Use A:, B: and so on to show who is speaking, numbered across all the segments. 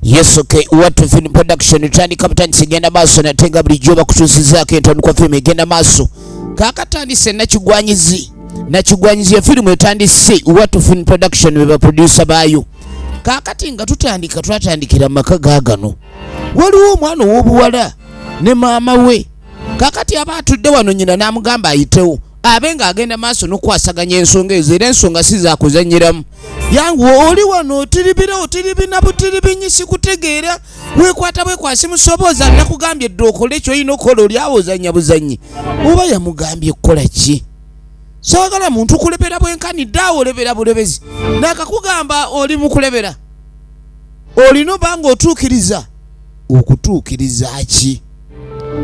A: Yes, okay. What to film production utandika kapitani genda maso na tenga bulijjo bakutusizaako entandikwa film egenda maaso kakatandise nakigwanyizi nakigwanyizi ya filimu etandise What to film production be baprodusa baayo kakati nga tutandika twatandikira maka gagano waliwo omwana ow'obuwala ne maama we kakati aba atudde wano nyina n'amugamba ayitewo abe ng'agenda maaso n'okukwasaganya ensonga ezo era ensonga si zakuzanyiramu yangu oli wano otiribira otiribina butiribinyi sikutegeera wekwata bwekwasi musobooza nakugambye dde okole kyolina okukola oli awo ozanya buzanyi oba yamugambye kukola ki sawagala muntu kulebera bwenkanidde awo olebera bulebezi nakakugamba oli mukulebera olina obanga otuukiriza okutuukiriza ki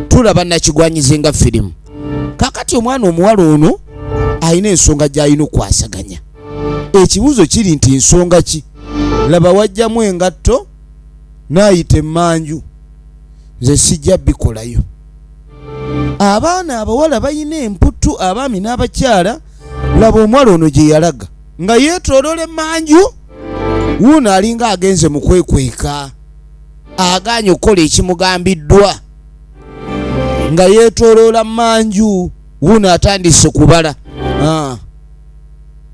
A: tulaba nakigwanyize nga firimu kakati omwana omuwala ono alina ensonga gyalina okwasaganya ekibuuzo kiri nti nsonga ki laba wajjamu engatto naayita emmanju nze sijja bikolayo abaana abawala balina emputtu abaami n'abakyala laba omuwala ono gye yalaga nga yeetoloola emmanju wuuno alinga agenze mu kwekweka agaanye okukola ekimugambiddwa nga yeetoloola manju wuuno atandise kubala ah.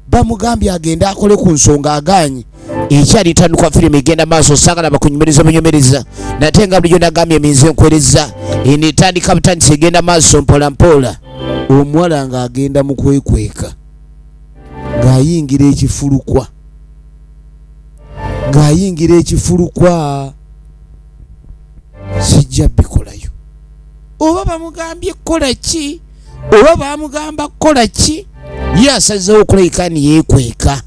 A: bamugambye agende akole ku nsonga agaanye ekyali tandikwa firimu egenda maaso sagala bakunyumiriza bunyumiriza nate nga bulijo nagambye eminzi enkwereza eno etandika butandisi egenda maaso mpolampola omuwala ng'agenda mu kwekweka ng'ayingira ekifulukwa ng'ayingira ekifulukwa sijja bikolayo oba bamugambye kukola ki oba bamugamba kukola ki ye asazeewo okulabika ni yeekweka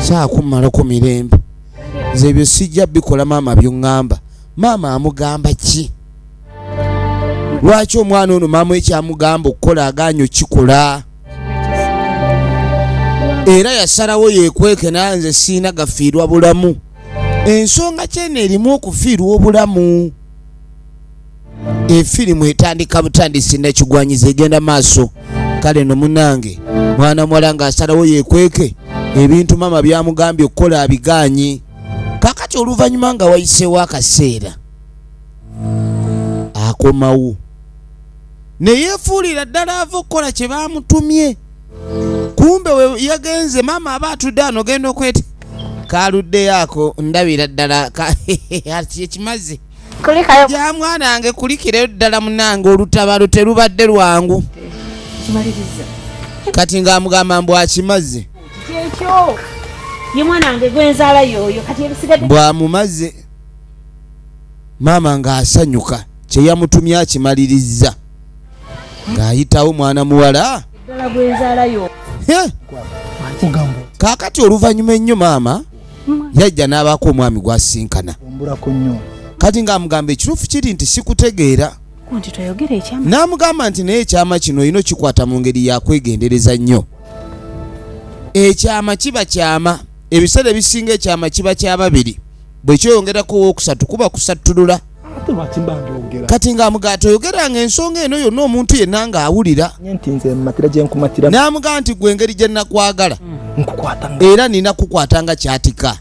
A: saakummalako mirembe nze ebyo sijja bikola maama byoŋŋamba maama amugamba ki lwaki omwana ono maama ekyamugamba okukola aganya okikola era yasalawo yekweke nanze siina gafiirwa bulamu ensonga kyeno erimu okufiirwa obulamu efirimu etandika butandisi nekigwanyiza egenda maaso kale no munange mwana muwala nga asalawo yekweke ebintu mama byamugambye okukola abigaanyi kakati oluvannyuma nga wayiseewo akaseera akomawo ne yeefuulira ddala ava okukola kye baamutumye kumbe we yagenze maama aba atudde ano genda okwete kaluddeyo ako ndabira ddala ekimazi ya mwana wange kulikirayo ddala munange olutabalo terubadde lwangu kati ng'amugamba mbu akimaze
B: bw'amumaze
A: maama ng'asanyuka kye yamutumye akimalirizza ng'ayitawo mwana muwala kaakati oluvannyuma ennyo maama yajja n'abaako omwami gw'asisinkana kati ng'amugamba ekituufu kiri nti sikutegeera n'amugamba nti naye ekyama kino olina okikwata mu ngeri yakwegendereza nnyo ekyama kiba kyama ebiseera ebisinga ekyama kiba kya babiri bwe kyeyongerako owookusatu kuba kusattulula kati ng'amugamba toyogeranga ensonga eno yonna omuntu yenna ng'awulira n'amugamba nti gwe engeri gye nakwagala mm. era nina kukwata nga kyatika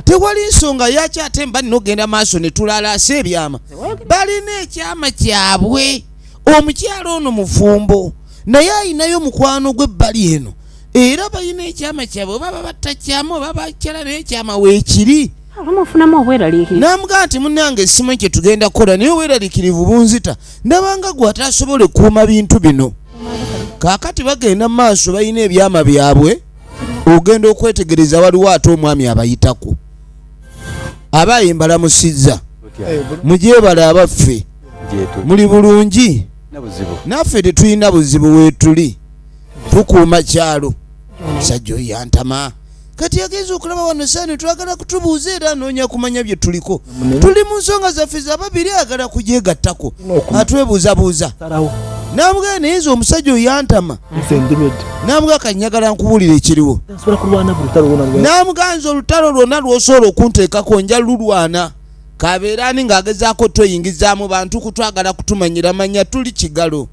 A: tewali nsonga yaki ate mba nina okugenda maaso ne tulalaasa ebyama balina ekyama kyabwe omukyalo ono mufumbo naye ayinayo mukwano gwe ebbali eno era balina ekyama kyabwe oba babatta kyama oba bakyala naye ekyama weekiri abamufunamu obweraliikirivu n'amugaa nti munnange essimu ekyo tugenda kukola naye obweraliikirivu bunzita ndabanga gwe ataasobola ekuuma bintu bino kaakati bagenda mu maaso balina ebyama byabwe ogenda okwetegereza waliwo ate omwami abayitako aba ye mbalamusizza mugyebale abaffe muli bulungi naffe tetulina buzibu weetuli tukuuma kyalo sajja oyo yantama kati agenza okulaba wano saani twagala kutubuuza era anoonya kumanya bye tuliko tuli mu nsonga zaffe zababiri agala kugyegattako atwebuuzabuuza namugaa naye nze omusajja oyantama namugaa kanyagala nkubuulira ekiriwo namugaa nze olutalo lwonna lwosobola okunteekako nja lulwana kabeera ani ng'agezaako tweyingiza mu bantu kutwagala kutumanyira manya tuli kigalo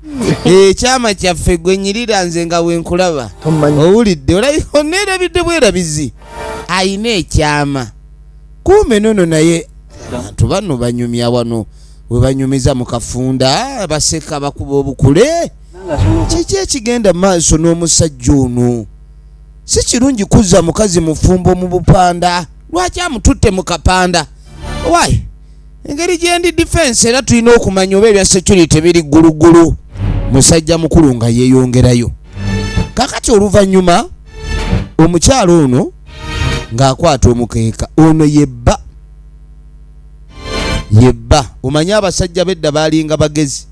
A: ekyama kyaffe gwe nyirira nze nga wenkulaba owulidde olabika oneerabidde bwerabizi ayina ekyama kuume nono naye abantu bano banyumya wano webanyumiza mu kafunda baseka bakuba obukule kiki ekigenda maaso n'omusajja ono si kirungi kuzza mukazi mufumbo mu bupanda lwaki amututte mu kapanda why engeri gyendi defense era tulina okumanya oba ebya security biri ggulugulu musajja mukulu nga yeeyongerayo kakati oluvannyuma omukyalo ono ng'akwata omukeeka ono yebba yebba omanye abasajja bedda baalinga bagezi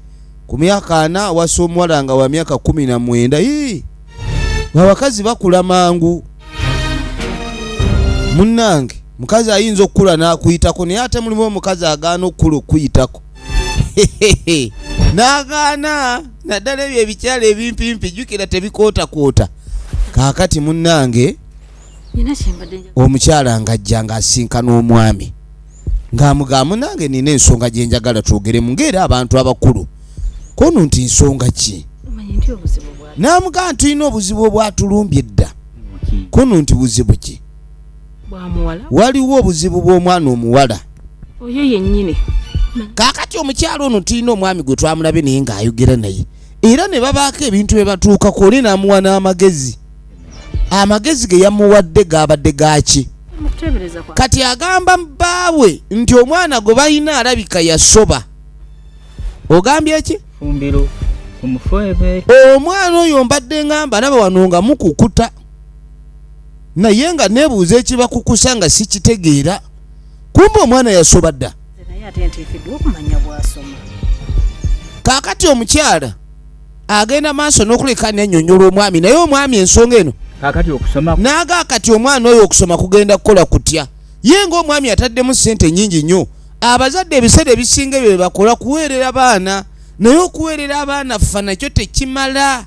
A: ku myaka ana awasa omuwala nga wa myaka kumi na mwenda ii abakazi bakula mangu munnange mukazi ayinza okukula n'akuyitako naye ate mulimu omukazi agaana okukula okukuyitako n'agaana naddala ebyo ebikyala ebimpimpi jjukira tebikootakoota kaakati munnange omukyala ng'ajja ng'asinkana omwami ng'amugamu nange nina ensonga gye njagala twogeremu ng'era abantu abakulu kono nti nsonga ki n'amugamba nti tulina obuzibu obwatulumbye edda kono nti buzibu ki waliwo obuzibu bw'omwana omuwala oyo
B: yennyini kaakati
A: omukyalo ono tulina omwami gwe twamulabye naye ng'ayogera naye era ne babaako ebintu bye batuukako oli n'amuwa n'amagezi amagezi ge yamuwadde gaabadde gaaki kati agamba bbaawe nti omwana gwe balina alabika yasoba ogambye ki
C: omwana oyo
A: mbadde ngamba naba wano nga mukukuta naye nga nebuuza ekibakukusa nga sikitegeera kumba omwana yasoba dda kakati omukyala agenda maaso nokuleka nenyonyola omwami naye omwami ensonga eno naga kati omwana oyo okusoma kugenda kukola kutya ye ngaomwami ataddemu sente nyingi nnyo abazadde ebiseera ebisinga ebyo bebakola kuweerera baana naye okuweerera abaana ffa nakyo tekimala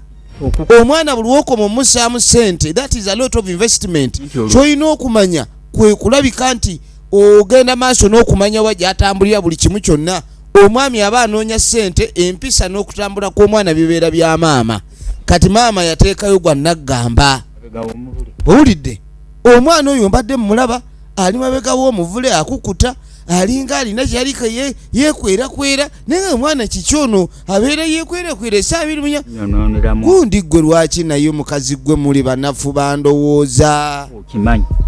A: omwana buli wokoma omusaamu sente that is a lot of investment kyolina okumanya kwekulabika nti ogenda maaso n'okumanya wa gy'atambulira buli kimu kyonna omwami aba anoonya ssente empisa n'okutambula kw'omwana bibeera bya maama kati maama yateekayo gwa naggamba owulidde omwana oyo mbadde mumulaba ali mabega w'omuvule akukuta alinga alina kyeyali yekwerakwera naye nga omwana kiki ono abeera yekwerekwera esaa biri munya gundi ggwe lwaki naye mukazi ggwe muli banafu bandowooza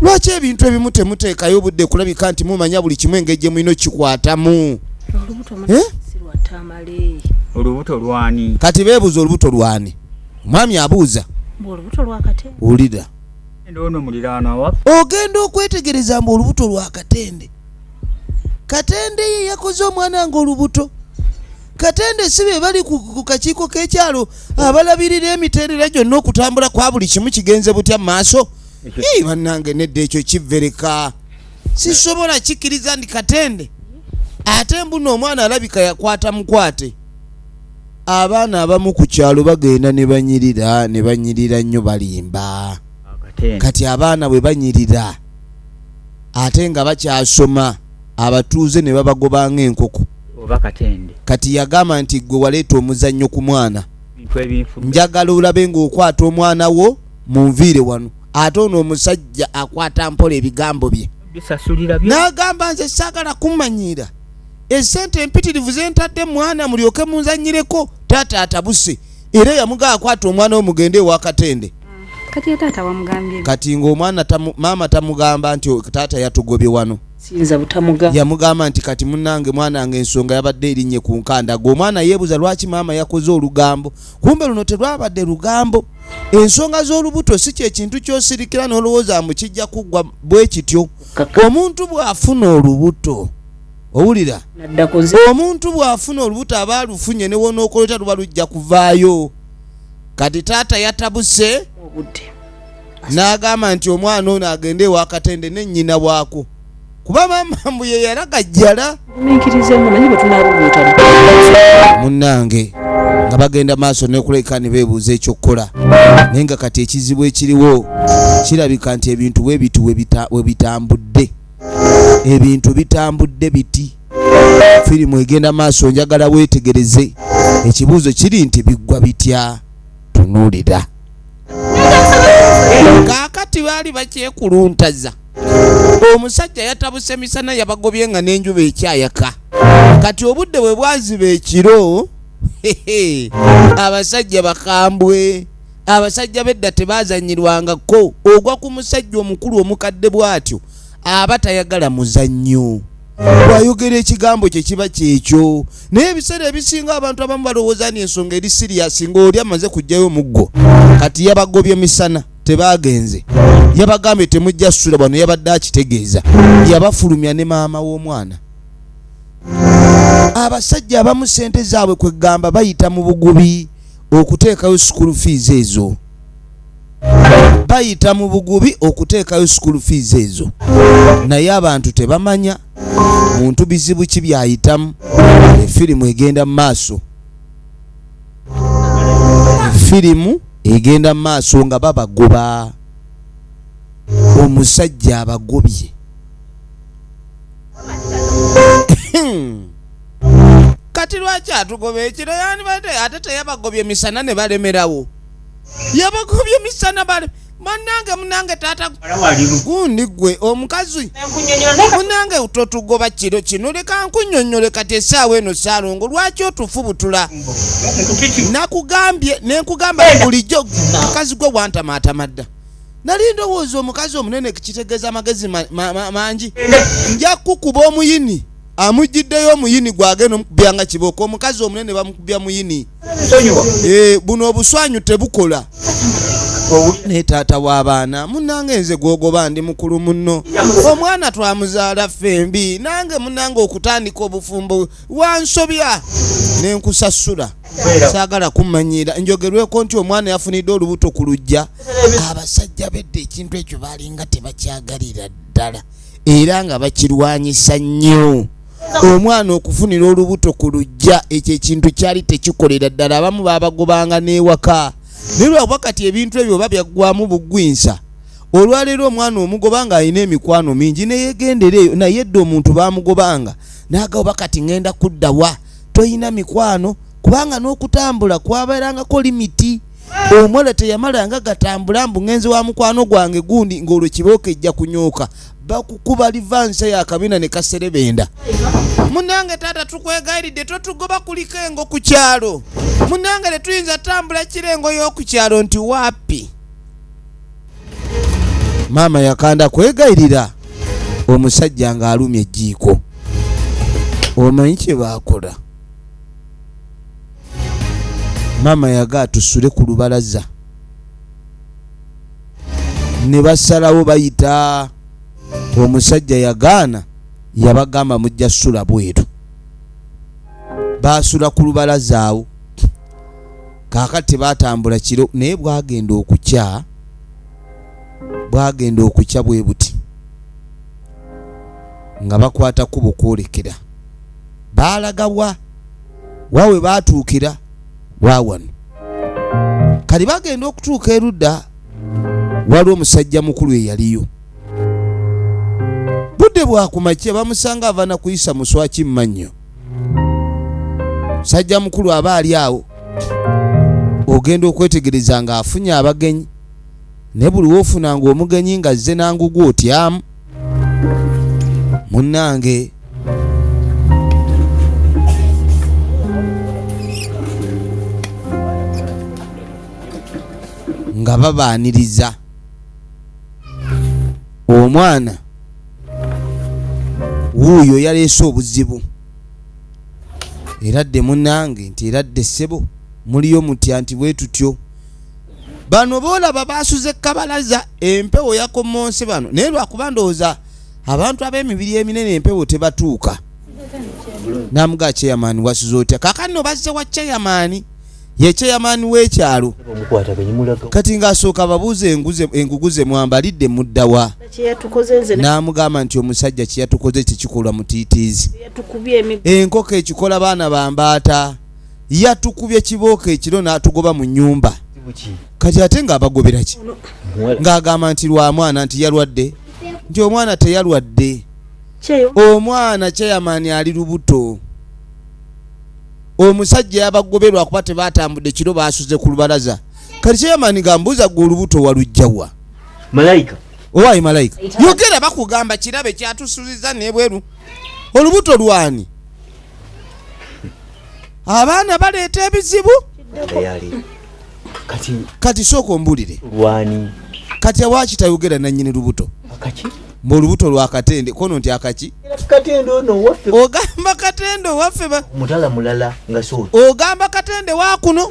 A: lwaki ebintu ebimu temuteekayo obudde kulabika nti mumanya buli kimu engeri gye mulina okikwatamu eh?
C: olubuto lwani kati beebuuza olubuto
A: lwani omwami abuuza wulira ogenda okwetegereza mbu olubuto lwakatende katende ye yakoze omwana nga olubuto katende si be bali ku kakiiko k'ekyalo abalabirira emiterera gyonna okutambula kwa buli kimu kigenze butya mu maaso ii bannange nedda ekyo kivereka sisobola kikkiriza ndi katende ate mbuno omwana alabika yakwata mukwate abaana abamu ku kyalo bagenda ne banyirira ne banyirira nnyo balimba kati abaana bwe banyirira ate nga bakyasoma abatuuze ne babagoba ng'enkoko oba katende kati yagamba nti gwe waleeta omuzannyo ku mwana njagala olabe ng'okwata omwana wo mu nviire wano ate ono omusajja akwata mpola ebigambo bye n'agamba nze saagala kumanyiira esente empitirivu zentadde mwana mulyoke munzanyireko taata atabuse era yamugaa akwata omwana wo mugende ewakatende kati ya taata
B: wamugambye kati ng'omwana tamu,
A: maama tamugamba nti taata yatugobye wano siyinza butamugamba
B: yamugamba nti kati
A: munange mwanange ensonga yabadde erinnye ku nkanda gwe omwana yeebuza lwaki maama yakoze olugambo kumbe luno terwabadde lugambo ensonga z'olubuto si kyekintu kyosirikira n'olowooza mu kijja kuggwa bwe kityo omuntu bw'afuna olubuto owulira omuntu bw'afuna olubuto aba alufunye newonookoleta luba lujja kuvaayo kati taata yatabuse n'agamba nti omwana ono agende ewakatende ne nnyina waako kuba maama mbu ye yalagajjala munnange nga bagenda maaso nekuleka ne beebuuza ekyokukola naye nga kati ekizibu ekiriwo kirabika nti ebintu bwe bitu we bitambudde ebintu bitambudde biti firimu egenda maaso njagala weetegereze ekibuuzo kiri nti biggwa bitya tunuulira kaakati baali bakyekuluntaza omusajja yatabuse misana yabagobye nga n'enjuba ekyayaka kati obudde bwe bwaziba ekiro abasajja bakambwe abasajja bedda tebazanyirwangako ogwa ku musajja omukulu omukadde bw'atyo aba tayagala muzannyo bwayogera ekigambo kye kiba kyekyo naye ebiseera ebisinga abantu abamu balowooza ni ensonga eri siriyasi ng'oli amaze kujjayo omuggo kati yabagobye misana tebaagenze yabagambye temujja ssula bwano yabadde akitegeeza yabafulumya ne maama w'omwana abasajja abamu sente zaabwe kwegamba bayita mu bugubi okuteekayo sukulu fiizi ezo bayita mu bugubi okuteekayo school fees ezo naye abantu tebamanya muntu bizibu ki byayitamu efirimu egenda mu maaso efirimu egenda mu maaso nga babagoba omusajja abagobye kati lwaki atugoba ekiro yandibadde ate teyabagobye misana ne balemerawo yabakubye misana bale banange munange tata gundi gwe omukazi munange totugoba kiro kino leka nkunyonyole kati esaawa eno salongo lwaki otufubutula nakugambye nenkugamba bulijjo mukazi gwe wantamaatama dda nali ndowooza omukazi omunene kitegeeza amagezi mangi nja kukuba omuyini amujjiddeyo omuyini gwagenda omukubya nga kiboka omukazi omunene bamukubya muyini Eh, buno obuswanyu tebukola ne taata w'abaana munange nze gwogoba ndi mukulu muno omwana twamuzaala ffe mbi nange munange okutandika obufumbo wansobya ne nkusasula saagala kumanyiira njogerweko nti omwana yafunidde olubuto ku lujja abasajja bedda ekintu ekyo baalinga tebakyagalira ddala era nga bakirwanyisa nnyo omwana okufunira olubuto ku lujja ekyo ekintu kyali tekikolera ddala abamu babagobanga n'ewaka naye lwakuba kati ebintu ebyo oba byaggwamu bugwinsa olwaleero omwana omugoba nga alina emikwano mingi neyegendera eyo naye dde omuntu bamugobanga naga oba kati ŋenda kudda wa tolina mikwano kubanga n'okutambula kwabeerangako limiti omuwala teyamalanga gatambula mbu ŋenzi wa mukwano gwange gundi ng'olwo kibooko ejja kunyooka bakukuba livanse yakabina nekaserebenda munange taata tukwegayiridde totugoba kuliko engo ku kyalo munange tetuyinza tambula kira engo y'okukyalo nti wapi maama yakanda kwegayirira omusajja ng'alumya ejjiiko omanyi kye baakola maama yaga atusule ku lubalaza ne basalawo bayita omusajja yagaana yabagamba mujja sula bweru baasula ku lubalazaawo kaaka tebatambula kiro naye bwagenda okukya bwagenda okukya bwe buti nga bakwata kubo kwolekera baalagawa wawe baatuukira wawano kati bagenda okutuuka erudda waliwo omusajja mukulu eyaliyo budde bwakumakya bamusanga avana kuyisa muswaki mumannyo musajja mukulu aba ali awo ogenda okwetegereza nga afunye abagenyi ne buli wofunanga omugenyi nga zze nangugu otyamu munnange nga babaaniriza omwana wuuyo yaleese obuzibu era dde munange nti era dde ssebo muliyo mutya nti bwe tutyo bano boolaba baasuze kabalaza empewo yakomonse bano naye lwakuba ndowooza abantu ab'emibiri eminene empewo tebatuuka namuga chairman wasuze otya kakani nobazze wa chairman ye chairman w'ekyalo kati ng'asooka babuuza engugu ze mwambalidde muddawa n'amugamba nti omusajja kyeyatukoze tekikolwa mutiitiizi enkoko ekikola baana bambaata yatukubye kibooko ekiro n'atugoba mu nyumba kati ate ng'abagobera ki ng'agamba nti lwa mwana nti yalwadde nti omwana teyalwadde omwana kyeyamaani ali lubuto omusajja yabagoberwa kuba tebatambudde kiro basuze ku lubalaza kati kyeyamaani gambuuza gwe
D: olubuto
A: walujjawa malayika owaayi malayika yogera bakugamba kirabe kyatusuziza nebweru olubuto lwani abaana baleeta ebizibu kati sooka ombulire
D: kati awaki
A: tayogera nanyini lubuto mbu
D: olubuto lwa
A: katende kono nti akaki
D: ogamba katende
A: owaffe
D: ogamba katende
A: wakuno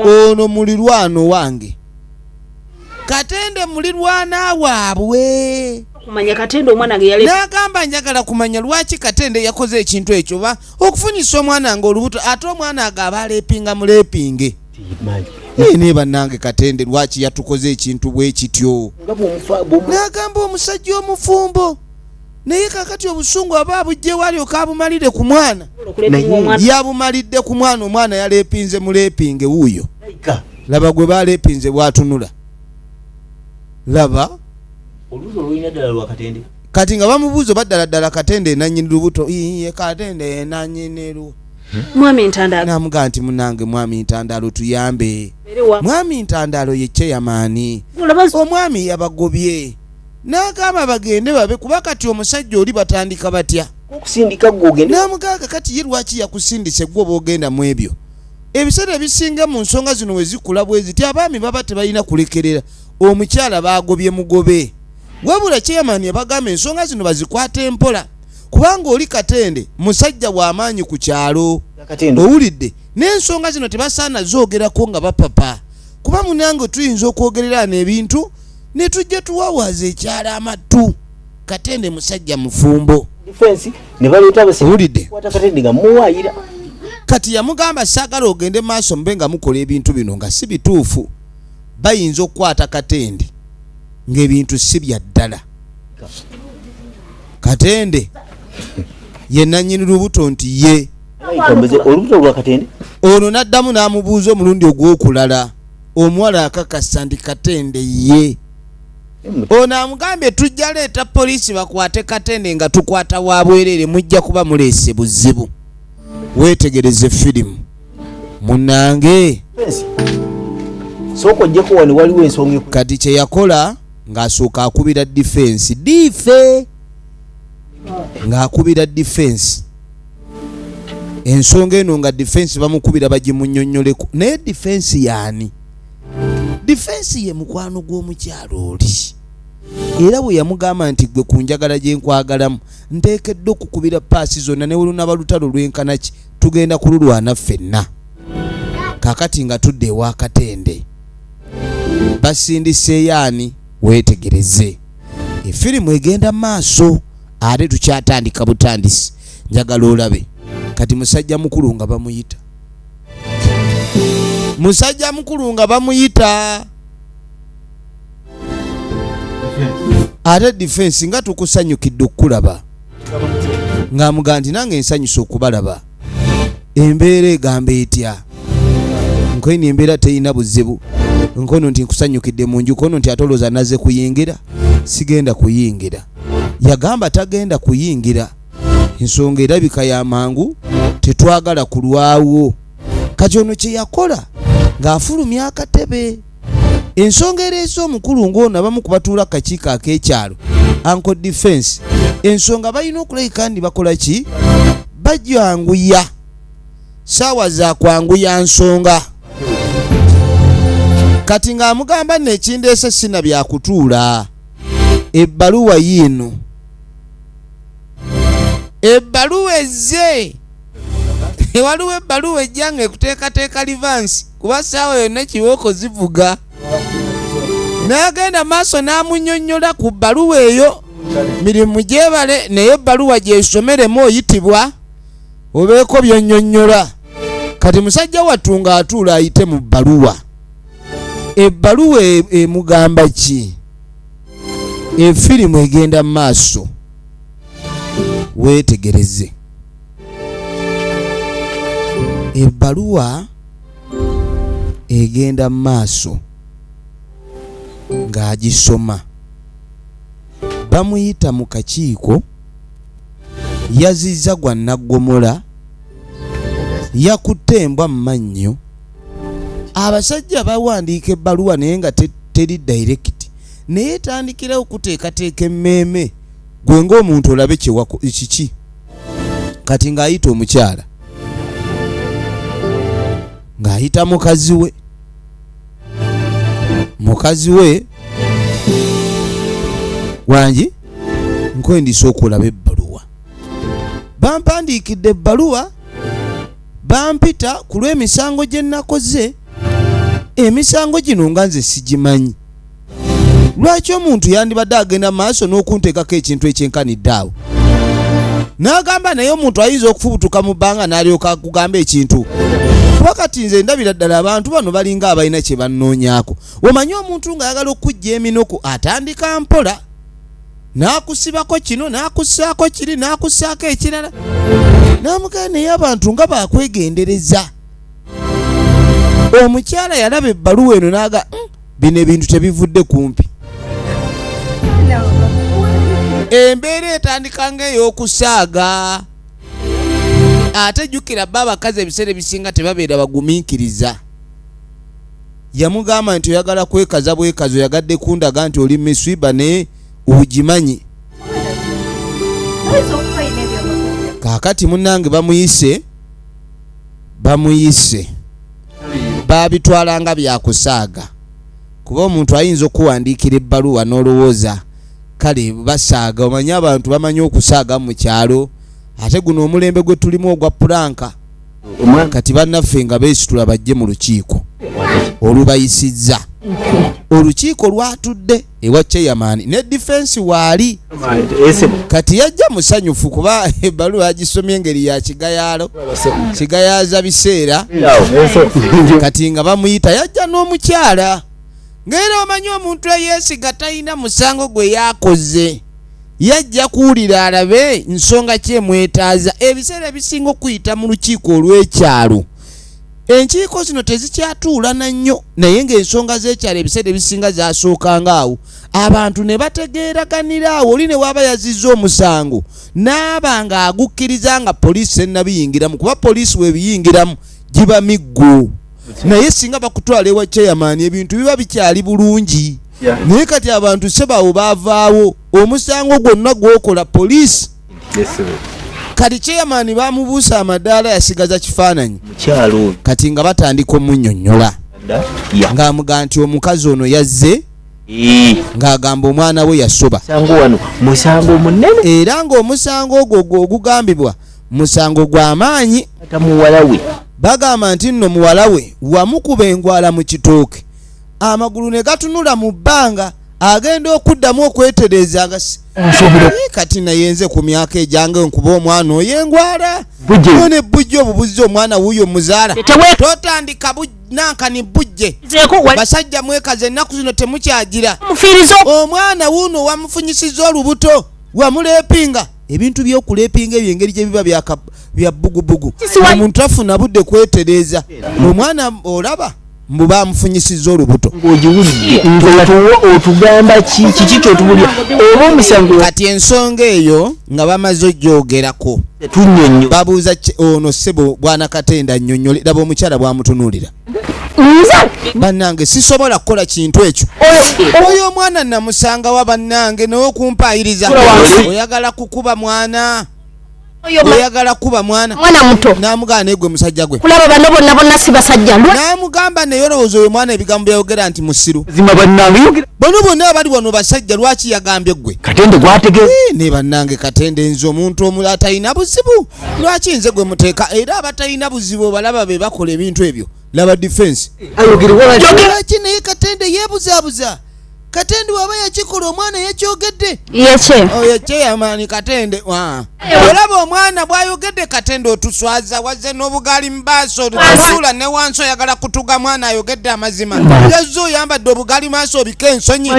A: ono mulirwano wange katende mulirwana waabwe kumanya katende
B: omwana ge yale nagamba njagala kumanya
A: lwaki katende yakoze ekintu ekyo ba okufunyisa omwana nga olubuto ate omwana agaba alepinga mulepinge naye naye bannange katende lwaki yatukoze ekintu bwe kityo nagamba omusajja omufumbo naye kakati obusungu aba abugyewo alyoka abumalire ku mwana yabumalidde ku mwana omwana yalepinze mulepinge wuuyo laba gwe balepinze bwatunula laba
D: kati nga bamubuuza
A: oba ddala ddala katende enanyini lubuto iye katende enanyini lu hmm? mwami ntandalo
B: namuga nti munange
A: mwami ntandalo tuyambe mwami ntandalo yekyeyamaani omwami yabagobye n'agamba bagende babe kuba kati omusajja oli batandika batya okusindika gwe ogende
D: n'amugaaga kati ye lwaki
A: yakusindise gwe oba ogenda mu ebyo ebiseera ebisinga mu nsonga zino we zikula bwe ziti abaami baba tebalina kulekerera omukyala baagobye mugobe wabula chairman yabagamba ensonga zino bazikwata empola kubanga oli katende musajja w'amaanyi ku kyalo owulidde n'ensonga zino tebasaana zoogerako nga bapapa kuba munange tuyinza okwogerera n'ebintu ne tujja tuwawaaza ekyala amattu katende musajja mufumbo
D: kati
A: yamugamba saagala ogende maaso mube nga mukola ebintu bino nga si bituufu bayinza okukwata katende ng'ebintu si bya ddala katende ye nannyini lubuto nti ye
D: ono n'addamu
A: n'amubuuza omulundi ogw'okulala omuwala akakasa ndi katende ye ono amugambye tujja leeta poliisi bakwate katende nga tukwata wa bwereere mujja kuba muleese buzibu weetegereze firimu munange
D: kati kye yakola
A: ng'asooka akubira difensi dife ng'akubira difensi ensonga eno nga defense bamukubira bagimunyonyoleko naye defense yaani defense ye mukwano gw'omukyalo oli era bwe yamugamba nti gwe ku njagala gye nkwagalamu nteekedde okukubira paasi zonna ne wulunaba lutalo lwenkana ki tugenda kululwana ffenna kakati nga tudde ewakatende basindiseeyo ani weetegereze efirimu egenda maaso ate tukyatandika butandisi njagala olabe kati musajja mukulu nga bamuyita musajja mukulu nga bamuyita ate difensi nga tukusanyukidde okukulaba ng'amuga nti nange nsanyusa okubalaba embeera egamba etya nkono embeera terina buzibu nkono nti nkusanyukidde mu nju kono nti atolooza naze kuyingira sigenda kuyingira yagamba tagenda kuyingira ensonga erabika ya mangu tetwagala kulwawo kati ono kye yakola ng'afulumya akatebe Ensonga ereese omukulu ng'ono abamu ku batuula kakiiko ak'ekyalo Uncle Defense ensonga balina okulabika ndi bakola ki bajyanguya saawa za kwanguya nsonga kati ng'amugamba nno ekindeese sina byakutuula ebbaluwa yiino ebbaluwa ezze ewaliwo ebbaluwa ejja nga ekuteekateeka livansi kuba saawa yonna kibooko zivuga n'agenda maaso n'amunyonyola ku bbaluwa eyo mirimu gyebale naye ebbaluwa gyesomeremu oyitibwa obeeko byonyonyola kati musajja wattu ng'atuula ayite mu bbaluwa ebbaluwa e, emugamba ki efirimu egenda mu maaso weetegereze ebbaluwa egenda mu maaso ng'agisoma bamuyita mu kakiiko yazizza gwa naggomola yakutte embwa mu mannyo abasajja bawandiika ebbaluwa naye nga teri dayirekiti naye etandikirawo okuteekateeka emmeeme gwe ng'omuntu olabe kiki kati ng'ayita omukyala ng'ayita mukazi we mukazi we wangi nkwendisa okulaba ebbaluwa bampandiikidde ebbaluwa bampita ku lw'emisango gye nnakoze emisango gino nga nze sigimanyi lwaki omuntu yandibadde agenda maaso n'okunteekako ekintu ekyenkanidde awo n'agamba naye omuntu ayinza okufubutuka mu bbanga n'alyoka kugamba ekintu kuba kati nze ndabira ddala abantu bano balinga abalina kye bannoonyako omanyi omuntu ng'ayagala okukujja eminoku atandika mpola n'akusibako kino n'akussaako kiri n'akussaako ekirala n'amugenda naye abantu nga bakwegendereza omukyala yalaba ebbaluwa eno n'aga hmm, bino ebintu tebivudde kumpi embeera etandika ng'ey'okusaaga ate jjukira bba abakazi ebiseera ebisinga tebabeera bagumiikiriza yamugamba nti oyagala kwekaza bwekazi oyagadde kundaga nti oli miswiba ne ogimanyi kaakati munnange bamuyise bamuyise baabitwala nga byakusaaga kuba omuntu ayinza okuwandiikira ebbaluwa n'olowooza kale basaaga omanyi abantu bamanyi okusaaga mu kyalo ate guno omulembe gwe tulimu ogwa pulanka kati bannaffe nga beesitula bajje mu lukiiko olubayisizza olukiiko lwatudde ewa chairman ne defense waali kati yajja musanyufu kuba ebaluwa agisomye engeri ya kigayaalo kigayaza biseera kati nga bamuyita yajja n'omukyala ngaera omanyi omuntu eyesiga talina musango gwe yakoze yajja kuwulira alabe nsonga kyemwetaaza ebiseera ebisinga okuyita mu lukiiko olw'ekyalo enkiiko zino tezikyatuulana nnyo naye ng'ensonga z'ekyalo ebiseera ebisinga zasookanga awo abantu ne bategeeraganira awo oli ne waaba yazizza omusango n'aba ng'agukkiriza nga poliisi ennabiyingiramu kuba poliisi webiyingiramu giba miggo naye singa bakutwala ewa chairman ebintu biba bikyali bulungi naye kati abantu sebawo bavaawo omusango gwonna gwokola poliisi kati chairman bamubuusa amadaala yasigaza kifaananyi kati nga batandika omunyonyola ngaamuga nti omukazi ono yazze ng'agamba omwana we yasoba
D: era ng'omusango
A: ogwo ogugambibwa musango gwa maanyi bagamba nti nno muwala we wamukuba engwala mu kitooke amagulu ne gatunula mu bbanga agenda okuddamu okwetereeza Eh, kati naye nze ku myaka egyange nkuba omwana oyo engwala one bujje obubuzzi omwana wuuyo muzaala totandika nankani bujje basajja mwekaza ennaku zino temukyagira omwana wuuno wamufunyisiza olubuto wamulepinga ebintu byokulepinga ebyo engeri gyebiba bya bugubugu omuntu afuna budde kwetereeza omwana olaba mbu bamufunyisiza olubuto otugamba
D: kiki kyotubulya oba omusango kati ensonga
A: eyo nga bamaze ojogerako babuuza ono sebo bwana katenda nyonyole laba omukyala bwamutunulira bannange sisobola kukola kintu ekyo oyo omwana namusangawa bannange naye okumpaayiriza oyagala kukuba mwana oyagala kuba mwana mwana muto namugamba
B: naye gwe musajja
A: gwe kulaba bano bonna bonna si
B: basajja namugamba naye
A: olowooza oyo mwana ebigambo byayogera nti musiru zima bannange yogera bono bonna abali wano basajja lwaki yagambye gwe katende gwatege eh,
D: ne bannange
A: katende nze omuntu omula atalina buzibu lwaki nze gwe muteeka era abatalina buzibu obalaba be bakola ebintu ebyo laba defense ayogerewaaki naye katende yebuzabuza katende waba yakikola omwana yakyogedde yekye yamaani katende olaba omwana bwayogedde katende otuswaza wazze n'obugaali mubaaso otusuula ne wansi oyagala kutuga mwana ayogedde amazima yazze oyambadde obugaali maaso obika ensonyi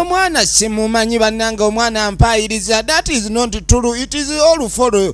A: omwana simumanyi bannange omwana ampayiriza that is not true it is all for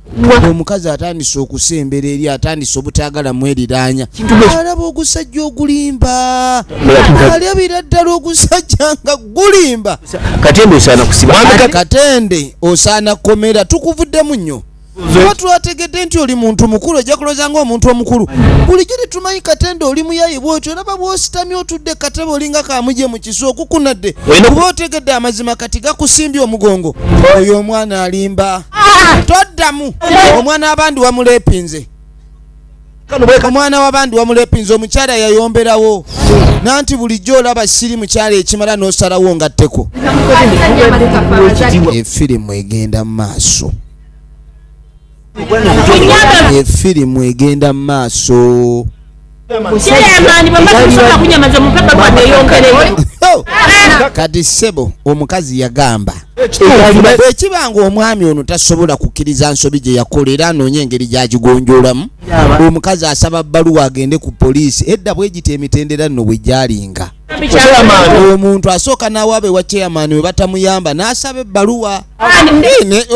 A: omukazi atandise okusembera eri atandise obutagala mweriraanya alaba ogusajja ogulimba alyabira ddala ogusajja nga gulimba
D: katende
A: osaana kukomera tukuvuddemu nnyo oba twategedde nti oli muntu mukulu ojja kuloza nga omuntu omukulu bulijjo tetumanyi katende oli muyayi bwotyo olaba bwositamye otudde katebe olinga kamuje mu kisu okukunadde kuba otegedde amazima kati gakusimbye omugongo oyo omwana alimba ah! toddamu omwana wabandi wamulepinze omwana wabandi wamulepinze omukyala yayomberawo nanti bulijjo olaba siri mukyala ekimala nosalawo nga tteko efirimu egenda mu maaso efirimu egenda mu maaso kati sebo omukazi yagamba bwekiba nga omwami ono tasobola kukkiriza nsobi gye yakola era anoonya engeri gyagigonjolamu omukazi asaba bbaluwa agende ku poliisi edda bwegita emitendera nno bwe gyalinga omuntu asooka n'awaaba ewa chairman we batamuyamba n'asaba ebbaluwa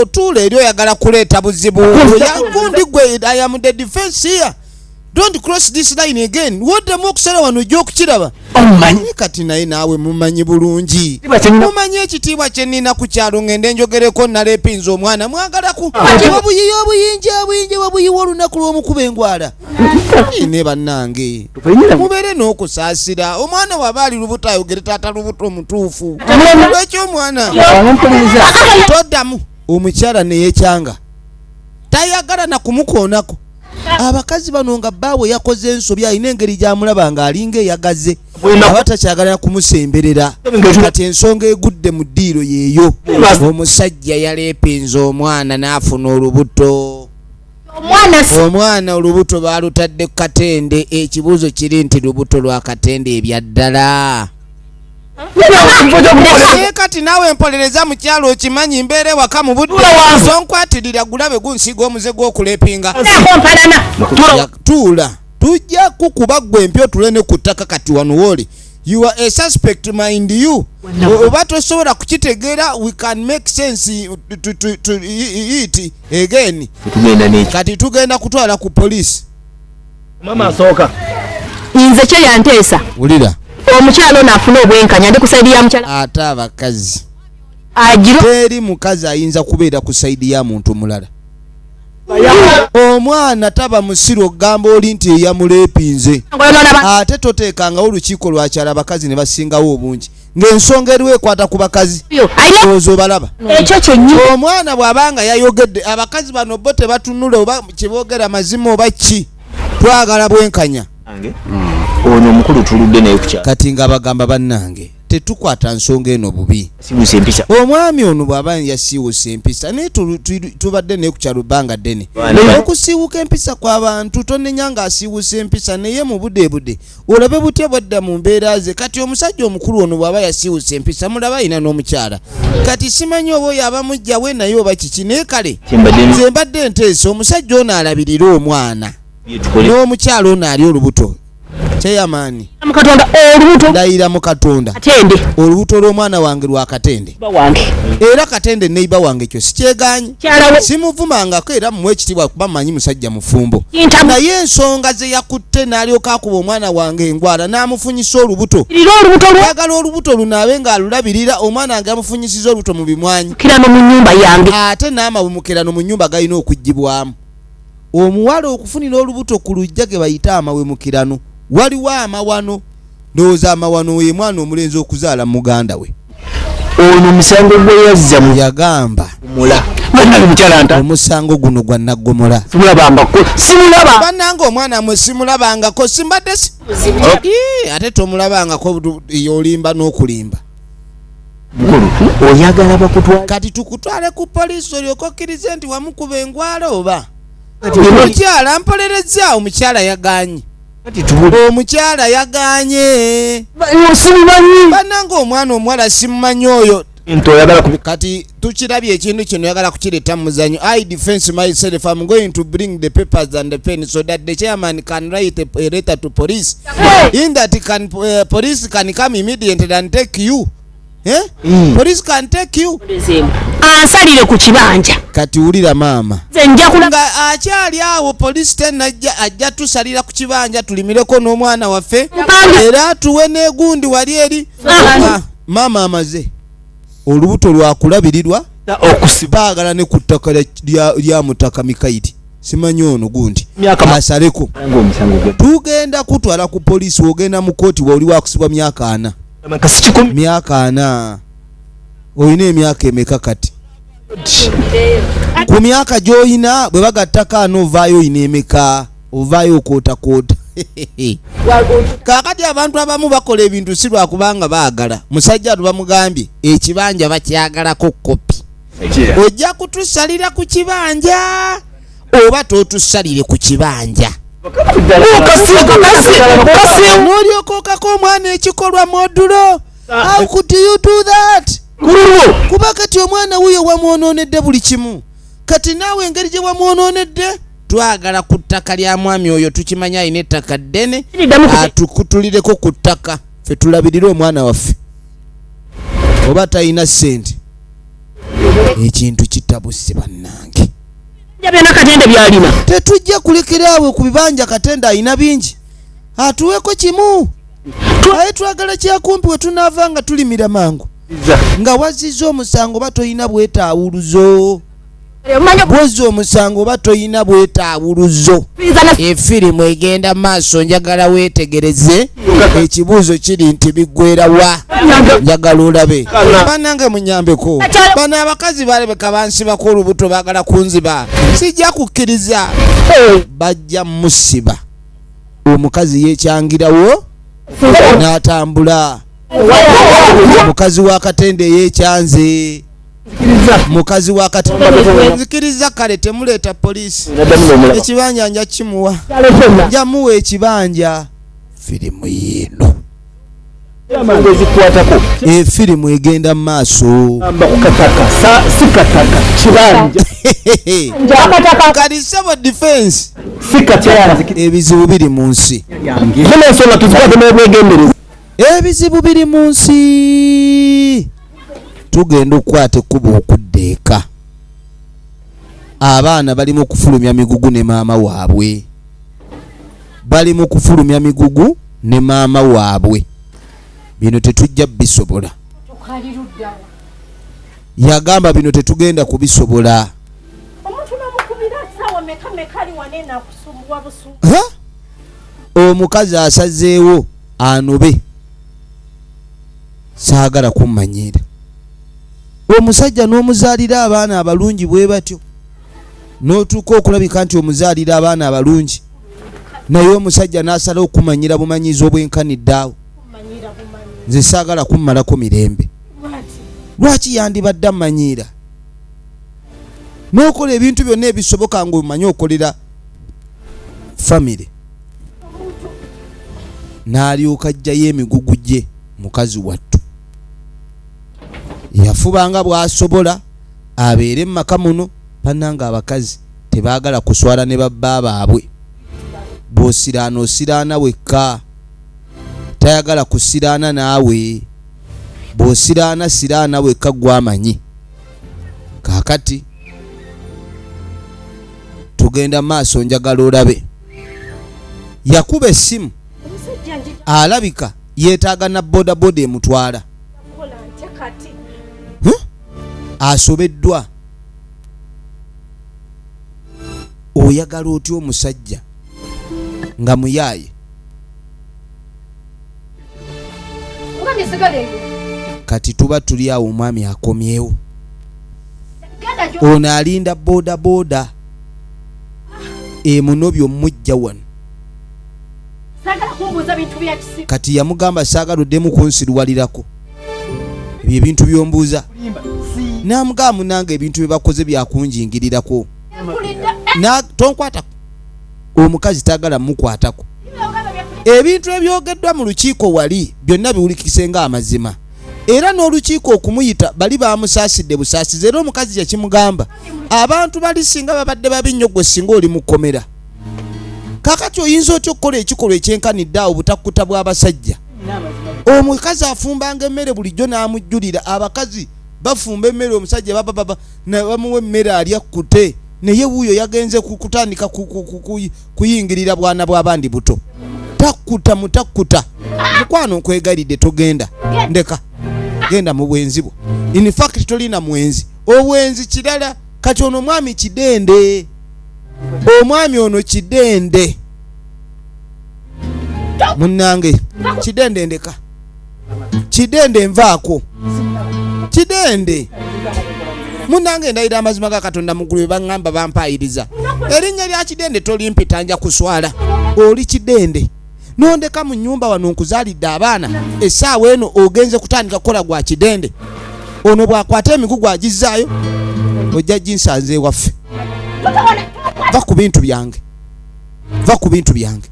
A: otuula eri oyagala kuleeta buzibu oyagundi gwe ayamudde defense here don't cross this line again woddemu okusala wano ojja okukiraba omanyi kati naye naawe mumanyi bulungi mumanyi ekitiibwa kyenina ku kyalo ngende njogereko naleepinza omwana mwagalaku obuyiyi obuyinji obuyinji babuyiwa olunaku lw'omukuba engwala ne bannange mubeere n'okusaasira omwana waba ali lubuto ayogere taata lubuto omutuufu lwekyo omwana toddamu omukyala neyekyanga tayagala nakumukoonako abakazi bano nga baawe yakoze ensobi alina engeri gyamulaba nga alinga eyagaze aba takyagalana kumusemberera kati ensonga egudde mu ddiiro yeeyo omusajja yaleepinza omwana n'afuna olubuto omwana olubuto baalutadde ku katende ekibuuzo kiri nti lubuto lwa katende ebyaddala naye kati naawe mpolereza mukyalo okimanyi mbeera ewaka mu budde sonkwatirira gulabe gunsiiga omuze gw'okulepinga tuula tujja kukuba gwe empya otule ne ku ttaka kati wano wooli you are a suspect mind you oba tosobola kukitegeera we can make sense to, to, to eat again kati tugenda kutwala ku police mama
D: asooka nze kye
E: yanteesa wulira
A: omukyala ono afuna
E: obwenkanya ndi ku saidi ya mukyala ate abakazi
A: agira
E: teri mukazi
A: ayinza kubeera ku saidi ya muntu mulala omwana taba musiru okugamba oli nti eyamuleepinze ate toteekangawo olukiiko lwakyala abakazi ne basingawo obungi ng'ensonga eriwo ekwata ku bakazi ozo obalaba ekyo kyenyi
E: omwana bw'aba nga
A: yayogedde abakazi bano bo tebatunula oba kyeboogera mazima oba ki twagala bwenkanya hmm.
D: ono omukulu tuludde naye kukya kati nga bagamba bannange
A: tetukwata nsonga eno bubi
D: omwami ono bw'aba
A: yasiiwusa empisa naye tubadde naye ku kyalo bbanga ddene okusiiwuka empisa kw'abantu tonenya ng'asiiwusa empisa naye mu budeebude olabe butya bwadda mu mbeera ze kati omusajja omukulu ono bw'aba yasiiwusa empisa mulaba alina n'omukyala kati simanyi oba oyo aba mujjawe naye oba kiki naye kale nze mbadde enteesa omusajja ono alabirire omwana n'omukyala ono ali olubuto kyeyamaani
E: ndayira mu katonda
A: olubuto
E: lw'omwana
A: wange lwa katende era
E: katende
A: neiba wange ekyo sikyeganyi simuvumangako era muwa ekitibwa kuba manyi musajja mufumbo naye ensonga zeyakutte nalyoka akuba omwana wange engwala namufunyisa olubuto agala olubuto lunaabe nga alulabirira omwana wange amufunyisiza olubuto mu bimwanyi
E: ate n'amawumukerano
A: mu nyumba galina okugibwamu omuwala okufunira olubuto ku lujja ge bayita amawemukirano waliwo amawano Ndowooza amawano oyo mwana omulenzi okuzaala muganda we. Ono
D: omusango gwe yazza mu yagamba mula. Bannange mukyala nta. Omusango guno gwa
A: naggomola. Simulabangako.
D: Simulaba. Bannange omwana mwe
A: simulabangako simbadde si. Okay. Ate tomulabangako yolimba n'okulimba.
D: Oyagala bakutwala. Kati tukutwale ku
A: poliisi olyoke okkirize nti wamukuba engwala oba. Omukyala mpolerezza omukyala yaganye. omukyala yaganye bananga omwana omuwala simumanyi oyo kati tukirabye ekintu kino yagala kukireta muzanyo i defense myself am going to bring the papers and the pen so that the chairman can write a, a letter to police in that can, uh, police can come immediately and take you Eh? Mm. Police can take you. Asalire
E: ku kibanja. Kati ulira mama.
A: Zenja kula. Nga
E: achali
A: awo police tena ajja tusalira ku kibanja tulimireko no mwana wafe. Era tuwe ne gundi wali eri. Ah. Mama amaze. Olubuto lwa kulabirirwa okusibagala ne kutaka lya, lya mutaka mikaidi. Simanyi ono gundi. Miaka masareko. Tugenda kutwala ku police ogenda mu koti wa uliwa kusibwa miaka ana. myaka ana olina emyaka emeka kati ku myaka gyolina bwe bagattako ana ovaayo olina emeka ovaayo okootakoota kakati abantu abamu bakola ebintu si lwakubanga baagala musajja atu bamugambye ekibanja bakyagalako kopi ojja kutusalira ku kibanja oba totusalire ku kibanja nolyoka okako omwana ekikolwa modulo how could you do that kuba kati omwana wuyo wamwononedde buli kimu kati naawe engeri gye wamwononedde twagala ku ttaka lya mwami oyo tukimanya alina ettaka ddene atukutulireko ku ttaka fe tulabirire omwana waffe oba talina ssente ekintu kitabuse bannange byona katende byalina tetujja kulekera awo ku bibanja katende alina bingi atuweko kimu aye twagala kyakumpi we tunaava nga tulimira mangu nga wazizza omusango oba tolina bwetaawuluzo bwozza omusango oba tolina bwetaawuluzo efirimu egenda maaso njagala weetegereze ekibuuzo kiri nti biggwera wa njagala olabe banange munyambeko bano abakazi balabeka bansibako olubuto bagala kunziba sijja kukkiriza bajja musiba omukazi yekyangirawo n'atambula mukazi wa katende eyekyanze mukazi wakati nzikiriza kale temuleeta poliisi ekibanja nja kimuwa njamuwa ekibanja firimu yiino ensonga ezikwatako efirimu eh, egenda mu maaso kalisaba defense ebizibu biri mu nsi ebizibu biri mu nsi tugenda okukwata ekkuba okudda eka abaana bali mu kufulumya migugu ne maama waabwe bali mu kufulumya migugu ne maama waabwe bino tetujja bisobola yagamba bino tetugenda kubisobola omukazi asazeewo anobe saagala kummanyiira omusajja n'omuzaalira abaana abalungi bwe batyo n'otuuka okulabika nti omuzaalira abaana abalungi naye omusajja n'asala okumanyira bumanyizi obwenkaniddaawo nze saagala kummalako mirembe lwaki yandibadde amanyiira n'okola ebintu byonna ebisoboka ng'omanyi okolera famire n'alyoka ajjayo emigugu gye mukazi wattu yafubanga bw'asobola abeere mumaka muno banange abakazi tebagala kuswala ne babba baabwe bwosiraana osiraana wekka tayagala kusiraana naawe bwosiraana siraana wekka gwamanyi kakati tugenda maaso njagala olabe yakuba essimu alabika yetaaga na bodaboda emutwala asobeddwa oyagala otya omusajja nga muyaaye kati tuba tuli awo omwami akomyewo ono alinda bodaboda emunobyo mujja wano kati yamugamba saagala oddemu kunsiruwalirako ebyo ebintu byombuuza namugaa munange ebintu byebakoze byakunjingirirako tonkwatako omukazi tagala mukwatako ebintu ebyogeddwa mu lukiiko wali byonna biwulikise nga amazima era n'olukiiko okumuyita bali bamusaasidde busaasizi era omukazi kyekimugamba abantu bali singa babadde babi nnyo gwe singa oli mukomera kakati oyinza otya okukola ekikolwa ekyenkanidde awo butakkuta bw'abasajja omukazi afumbanga emmere bulijjo n'amujjulira abakazi bafumba emmere omusajja babababa nebamuwa emmere alya kute naye wuuyo yagenze kutandika kuyingirira bwana bwabandi buto takkuta mutakkuta mukwano nkwegalidde togenda ndeka genda mu bwenzi bwo infact tolina mwenzi obwenzi kirala kati ono omwami kidende omwami ono kidende munnange kidende ndeka kidende nvaako kidende munange ndayira amazima ga katonda mugulu bebaŋŋamba bampaayiriza erinnya lya kidende tolimpita nja kuswala oli kidende nondeka mu nyumba wano nkuzaalidde abaana essaawa eno ogenze kutandika kukola gwa kidende ono bwakwata emigugu agizzaayo ojja ginsanze ewaffe va ku bintu byange va ku bintu byange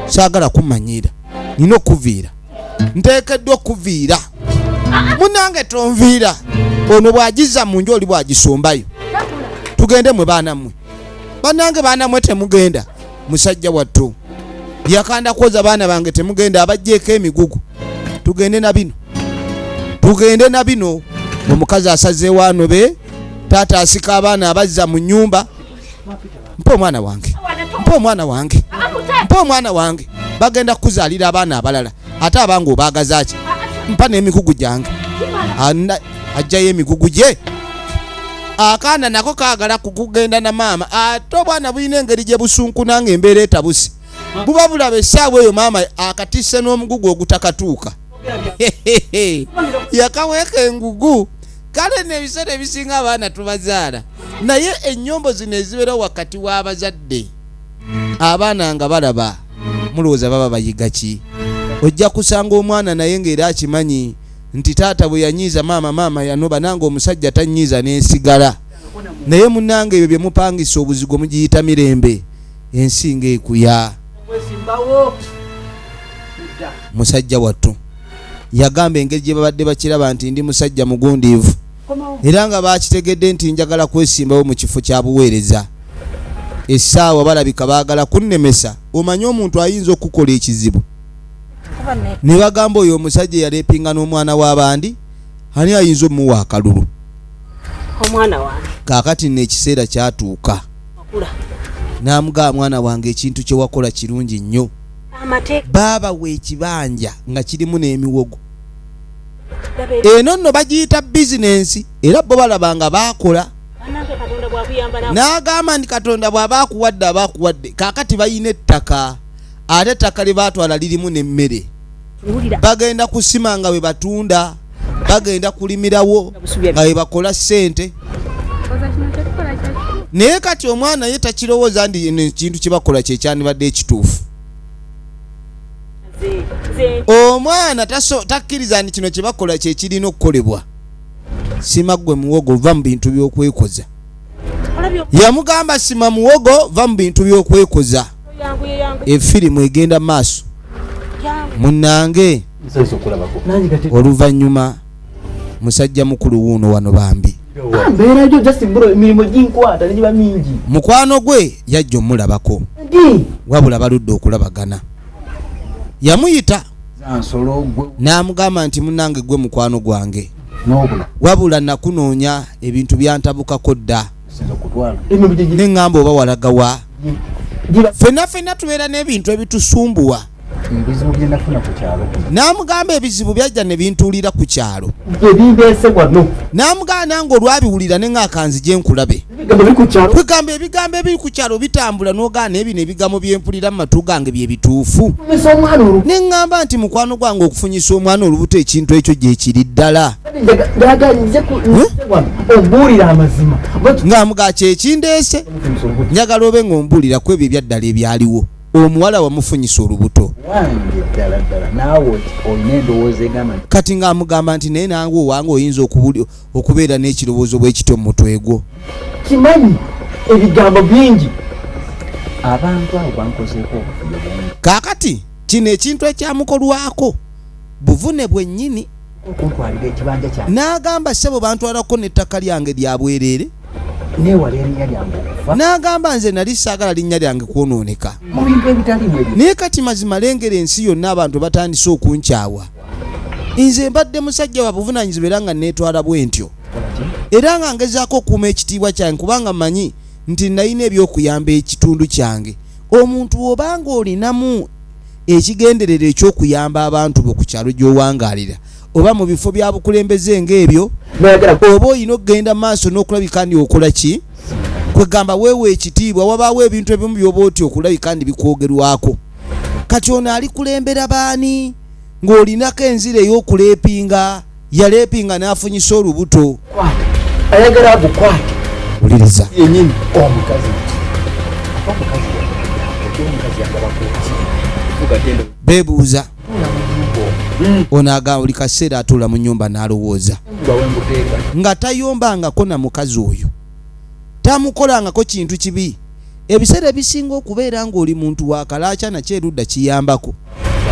A: saagala kumanyiira nina okuviira nteekeddwa okuviira munange tonviira ono bw'agizza mu nju oli bw'agisumbayo tugende mwe baana mmwe banange baana mmwe temugenda musajja wattu yakanda kwoza baana bange temugenda abajjeeko emigugu tugende na bino tugende na bino omukazi asazeewo anobe taata asika abaana abazza mu nnyumba mpa omwana wange mpa omwana wange mpa omwana wange bagenda kukuzaalira abaana abalala ate abange obaagaza ki mpa n'emigugu gyange ajjayo emigugu gye akaana nako kaagala kukugenda na maama ate obwana bulina engeri gye busunkuna nga embeera etabuse buba bulaba essaawa eyo maama akatisse n'omugugu ogutakatuuka yakaweeka engugu kale nebiseera ebisinga abaana tubazaala naye enyombo zino ezibeera wakati w'abazadde abaana nga balaba mulowooza baba bayiga ki ojja kusanga omwana naye ngaera akimanyi nti taata bwe yanyiiza maama maama yanoba nange omusajja tanyiiza nensigala naye munange ebyo byemupangisa obuzigo mugiyita mirembe ensi nga ekuya musajja wattu yagamba engeri gye babadde bakiraba nti ndi musajja mugundiivu era nga baakitegedde nti njagala kwesimbawo mu kifo kya buweereza essaawa balabika baagala kunnemesa omanyi omuntu ayinza okukola ekizibu ne bagamba oyo omusajja eyalepinga n'omwana w'abandi ani ayinza omuwa akalulu
B: kaakati nno ekiseera
A: kyatuuka namugaa mwana wange ekintu kyewakola kirungi nnyo baaba wekibanja nga kirimu n'emiwogo eno nno bagiyita bizinensi era bo balaba nga baakola n'agamba nti katonda bw'aba akuwadde aba akuwadde kaakati balina ettaka ate ettaka lye baatwala lirimu n'emmere bagenda kusima nga webatunda bagenda kulimirawo nga webakola sente naye kati omwana ye takirowooza ndi ekintu kyebakola kyekyanibadde ekituufu omwana takkiriza nti kino kyebakola kyekirina okukolebwa sima gwe muwogo va mu bintu byokwekoza yamugamba sima muwogo va mu bintu byokwekoza efirimu egenda maaso munange oluvanyuma musajja mukulu wuuno wano bambi mukwano gwe yajja omulabako wabula baludde okulabagana yamuyita n'amugamba nti munange gwe mukwano gwange wabula nakunoonya ebintu byantabukako dda neŋŋamba oba walaga wa fenna fenna tubeera n'ebintu ebitusumbuwa n'amugamba ebizibu byajja ne bintuulira ku kyalo n'amugamba nange olwabiwulira ne ngaakanzi gye nkulabe kwegamba ebigambo ebiri ku kyalo bitambula n'ogaana ebino ebigambo bye mpulira mu matu gange bye bituufu ne ŋŋamba nti mukwano gwange okufunyisa omwana olubuto ekintu ekyo gye kiri ddala ng'amuga kyekindeese njagala obe ng'ombuulira ku ebyo ebyaddala ebyaliwo omuwala wamufunyisa olubuto kati ng'amugamba nti naye nange owange oyinza okubeera n'ekirowoozo bwekityo mu mutwe gwo kimanyi
D: ebigambo bingi abantu abo bankozeeko kaakati
A: kino ekintu ekyamukolwako buvune bwennyini okuntwalira ekibanja kyange n'agamba ssebo bantwalako n'ettaka lyange lya bwereere
D: neewala erinnya lyange okufa n'agamba nze
A: nali saagala linnya lyange kwonooneka mu bintu ebitalimu
D: ebyo naye kati mazima lengera
A: ensi yonna abantu batandise okunkyawa nze mbadde musajja wa buvunaanyizibwa era nga neetwala bwe ntyo era nga ngezaako okuuma ekitiibwa kyange kubanga manyi nti nalina ebyokuyamba ekitundu kyange omuntu w'obanga olinamu ekigendererwa eky'okuyamba abantu bo ku kyalo gy'owangaalira oba mu bifo bya bukulembeze ng'ebyo oba olina okugenda maaso n'okulabika ndi okola ki kwegamba weewa ekitiibwa wabaawo ebintu ebimu byoba oti okulabika ndi bikwogerwako kati ono alikulembera baani ng'olinako enzira ey'okuleepinga yaleepinga n'afunyisa olubuto ayagala
D: agukwate wuliriza
A: yenyini
D: omukazi
A: bebuuza hmm. ono aga buli kaseera atuula mu nyumba n'alowooza nga tayombangako na mukazi oyo tamukolangako kintu kibi ebiseera ebisinga okubeera ng'oli muntu wakalaaca nakyo erudda kiyambako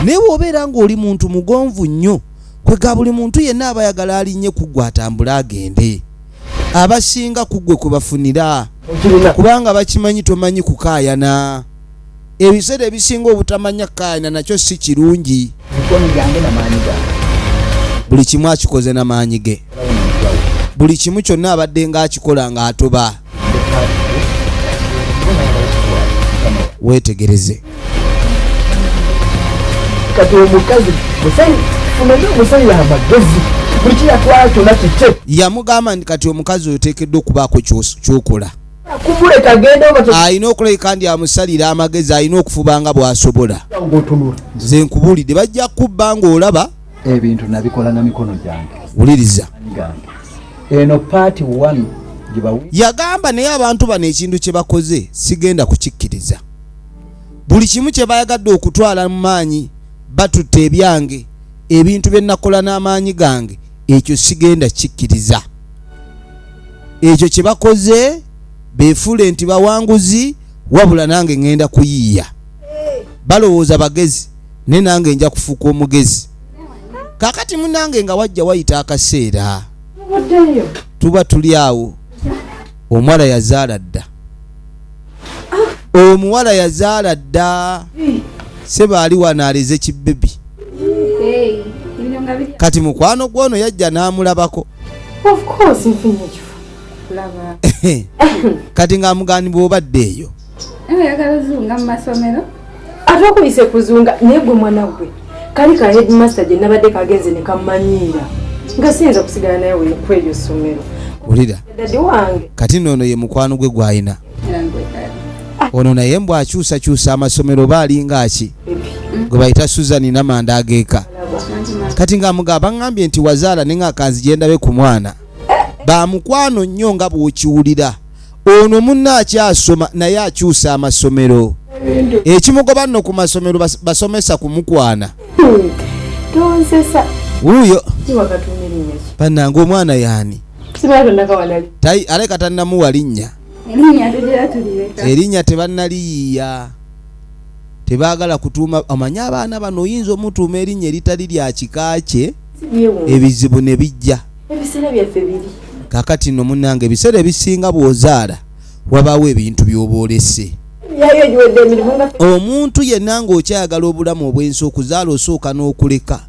A: naye wobeera ng'oli muntu mugonvu nnyo kwe ga buli muntu yenna aba ayagala alinnye ku ggwe atambule agende abasinga ku ggwe kwe bafunira kubanga bakimanyi tomanyi kukaayana ebiseera ebisinga obutamanya kukaayana nakyo si kirungi buli kimu akikoze na maanyi ge buli kimu kyonna abadde ng'akikola ng'atoba weetegereze kati
D: omukazi funayo omusajja amagezi buli kiyatwala kyona kikye yamugamba nti kati
A: omukazi oyo teekeddwa okubaako kyokola
D: alina okulabika ndi
A: amusalira amagezi alina okufuba nga bw'asobola nze
D: nkubuulidde
A: bajja kubba ng'olaba ebintu nabikola
D: na mikono gyange wuliriza eno paati one yagamba
A: naye abantu bano ekintu kye bakoze sigenda kukikkiriza buli kimu kye bayagadde okutwala mu maanyi batutte ebyange ebintu bye nakola n'amaanyi gange ekyo sigenda kikkiriza ekyo kye bakoze beefuule nti bawanguzi wabula nange ŋŋenda kuyiiya balowooza bagezi naye nange nja kufuuka omugezi kakati munange nga wajja wayita akaseera tuba tuli awo omuwala yazaala dda omuwala yazaala dda sebaali wano aleze kibebi kati mukwano gwono yajja n'amulabako kati ng'amugaanibwa obadde eyo oyagala ozunga
F: mu masomero ate okuyise
B: kuzunga naye gwe mwana gwe kali ka headmaster gye nabadde kagenze ne kammanyiira nga siyinza kusigala naye ku eryo ssomero wulira kati noono ye mukwano
A: gwe gwalina ono naye mbw akyusakyusa amasomero oba alinga ki gwe bayita suzan namanda ageeka kati nga muga baŋambye nti wazaala ne nga kanzijendabe ku mwana bamukwano nnyo nga bwokiwulira ono munna akyasoma naye akyusa amasomero ekimugoba nno ku masomero basomesa kumukwana
B: wuyo banange omwana yani aleka tannamuwa
A: linnya
F: erinnya tebannaliyiya
A: tebaagala kutuuma omanyi abaana bano oyinza omutuuma erinnya eritali lya kika kye ebizibu ne bijja ebiseera
B: byaffe biri kakati no
A: munange ebiseera ebisinga bwozaala wabaawo ebintu byoba olese
B: omuntu yenna
A: ng'okyayagala obulamu obwensi okuzaala osooka n'okuleka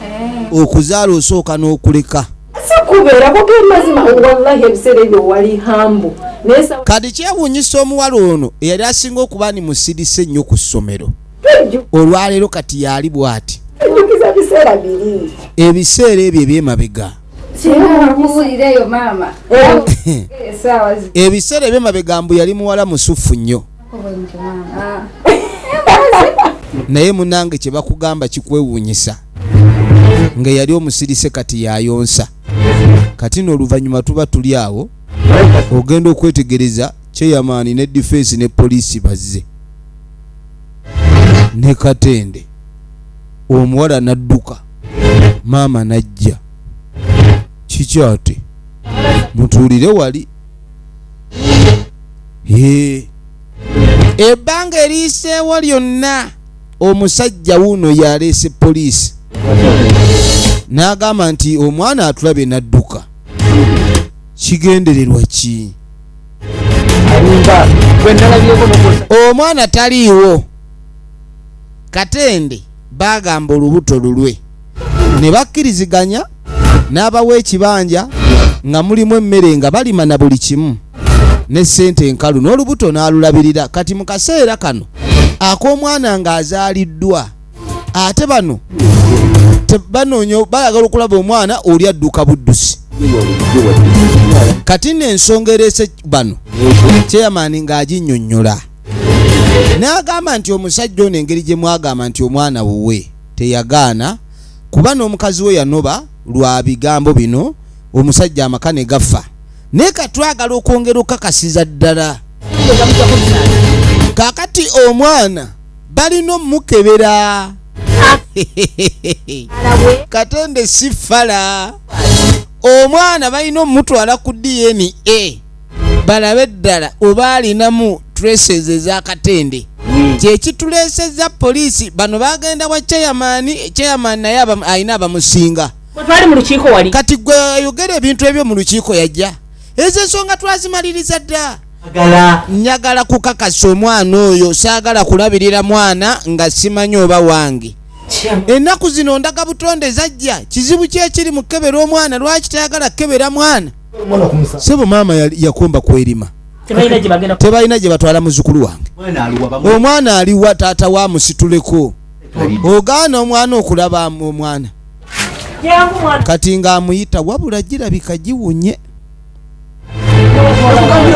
B: eh.
A: okuzaala osooka n'okuleka
B: kati kyewunyisa
A: omuwala ono eyali asinga okuba ni musirise nnyo ku ssomero
B: olwaleero kati
A: yaali bwati
B: ebiseera ebyo
A: ebyemabega
F: ebiseera
A: ebyemabega mbu yali muwala musuffu nnyo naye munange kyebakugamba kikwewuunyisa nga yali omusirise kati yayonsa kati nooluvanyuma tuba tuli awo ogenda okwetegereza kyeyamaani ne difensi ne poliisi bazze ne katende omuwala n'adduka maama n'ajja kikyate mutuulire wali ebbanga eriiseewo lyonna omusajja wuuno yaleese poliisi n'agamba nti omwana atulabye n'adduka kigendererwa ki
D: omwana taliiwo
A: katende bagamba olubuto lulwe ne bakkiriziganya n'abawa ekibanja nga mulimu emmere nga balima na buli kimu ne sente enkalu n'olubuto n'alulabirira kati mu kaseera kano ak'omwana ng'azaaliddwa ate bano banoonya bayagala okulaba omwana oli adduka buddusi kati nensonga ereese bano kyeyamaani ng'aginyonnyola n'agamba nti omusajja ono engeri gye mwagamba nti omwana wuwe teyagaana kuba n'omukazi we yanoba lwa bigambo bino omusajja amaka ne gaffa naye katwagala okwongera okukakasiza ddala kakati omwana balina omukebera katende si fala omwana balina omutwala ku dna balabe ddala oba alinamu traces ezakatende hmm. kyekituleeseza poliisi bano bagenda wa cheyamani cheyamani naye alina abamusinga
E: kati gwe ayogera
A: ebintu ebyo mu lukiiko yajja ezo ensonga twazimaliriza dda njagala kukakasa omwana oyo saagala kulabirira mwana nga simanyi oba wange ennaku zino ndaga butonde zajja kizibu kyekiri mu kukebera omwana lwaki tayagala kukebera mwana sebo maama yakomba kwerima tebalina gye batwala muzukulu wange omwana aliwa taata wa musituleko ogaana omwana okulaba omwana kati ng'amuyita wabula girabika giwunye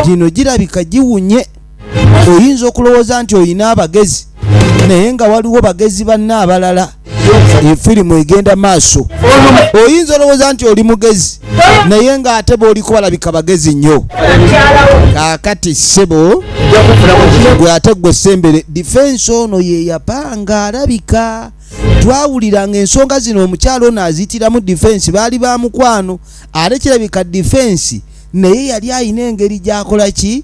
A: gino girabika giwunye oyinza okulowooza nti olina abagezi naye nga waliwo bagezi banna abalala efirimu egenda maaso oyinza olowooza nti oli mugezi naye nga ate booli kubalabika bagezi nnyo kakati sebo gwe ate gwe sembere difensi ono yeyapanga alabika twawuliranga ensonga zino omukyalo ono azitiramu difensi baali ba mukwano ate kirabika difensi naye yali alina engeri gyakola ki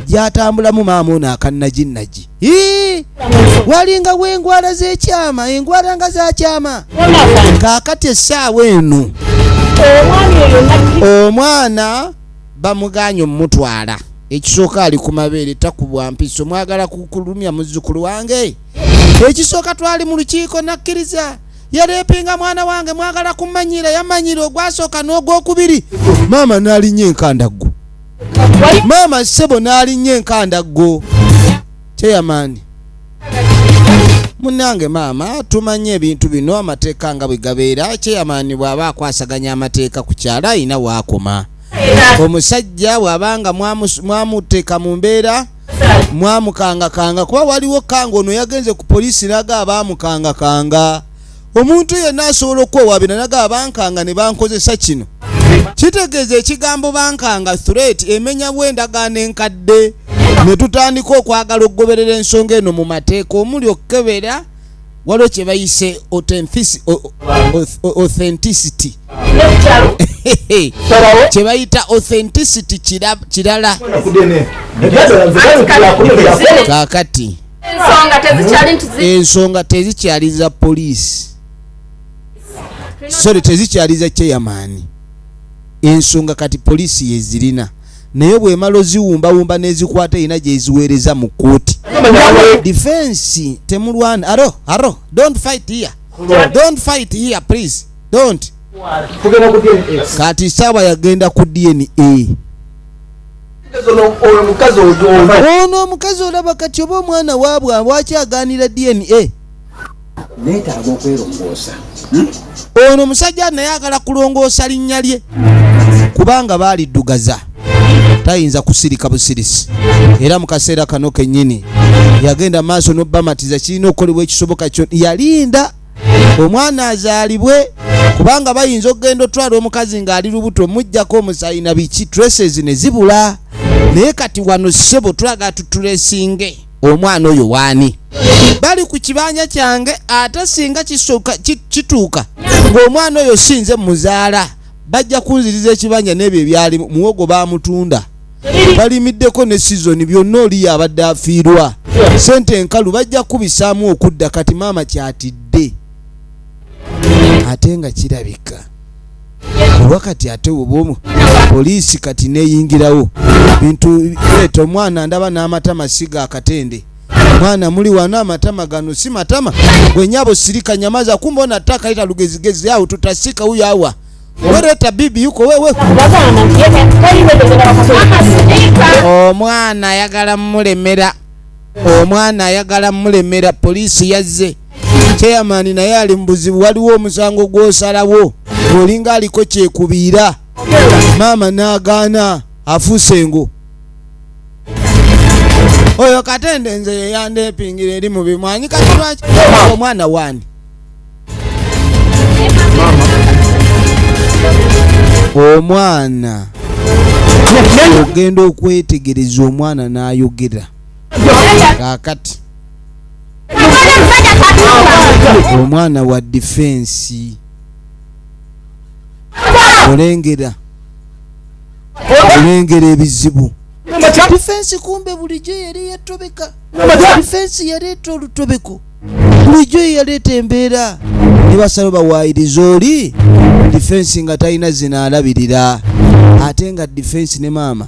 A: gyatambulamu maama ono akannajinnaji walinga wengwala zekyama engwala nga zakyama kakati essaawa eno omwana bamuganye omumutwala ekisooka ali ku mabeere takubwa mpiso mwagala kukulumya muzzukulu wange ekisooka twali mu lukiiko nakkiriza yalepinga mwana wange mwagala kumanyira yamanyira ogwasooka n'ogwokubiri maama n'alinnya enkandaggo maama ssebo n'alinnya enkandaggo kyeyamaani munange maama tumanye ebintu bino amateeka nga bwe gabeera kyeyamaani bw'aba akwasaganya amateeka ku kyalo alina waakoma omusajja bw'aba nga mwamuteeka mu mbeera mwamukangakanga kuba waliwo kanga ono yagenze ku poliisi naga abaamukangakanga omuntu yenna asobola okukwewabira naga abankanga ne bankozesa kino kitegeeza ekigambo bankanga threat emenya bw'endagaano enkadde ne tutandika okwagala okugoberera ensonga eno mu mateeka omuli okukebera waliwo kye bayise authenticity kye bayita authenticity kirala kakati ensonga tezikyali za poliisi sore tezikyali za cheyamaani ensonga kati poliisi yezirina naye bwemala oziwumbawumba nezikwata erina gyeziweereza mu kkooti difensi temulwana aro aro dont fight here dont fight here please dont kati saawa yagenda ku dna ono omukazi olaba kati oba omwana waabwe waki aganira dna
D: neetaaga okwerongoosa hmm?
A: ono omusajja naye agala kulongoosa linnya lye kubanga baaliddugaza tayinza kusirika busirisi era mu kaseera kano kennyini yagenda maaso n'obamatiza kirina okukolebwa ekisoboka kyo yalinda omwana azaalibwe kubanga bayinza okugenda otwala omukazi ng'ali lubuto omujjako omusayi na biki traces ne zibula naye kati wano ssebo twagala tutulesinge omwana oyo waani bali ku kibanja kyange ate singa kituuka ng'omwana oyo sinze muzaala bajja kunziriza ekibanja n'ebyo ebyali muwogo baamutunda balimiddeko ne sizoni byonna oliyo abadde afiirwa sente enkalu bajja kubisaamu okudda kati maama kyatidde ate nga kirabika kuba kati ate obomu poliisi kati neyingirawo bintu leeta omwana ndaba n'amatama siga akatende mwana muli wano amatama gano si matama gwenyabo sirika nyamaza kumba ona taka ita lugezigezi yao tutasika huyo awa wereta bibi yuko wewe omwana ayagala mulemera omwana ayagala mulemera polisi yazze chairman naye ali mu buzibu waliwo omusango gw'osalawo olinga aliko kyekubiira maama n'agaana afuuse engo oyo katende nze yeyandepingira eri mu bimwanyi kati lwaki omwana wani omwana ogenda okwetegereza omwana n'ayogera kakati omwana wa difensi olengera olengera ebizibu difensi kumbe bulijjo yali yetobeka difensi yaleeta olutobeko bulijjo yeyaleeta embeera nebasalo bawaayiriza oli difensi nga talina zina alabirira ate nga difensi ne maama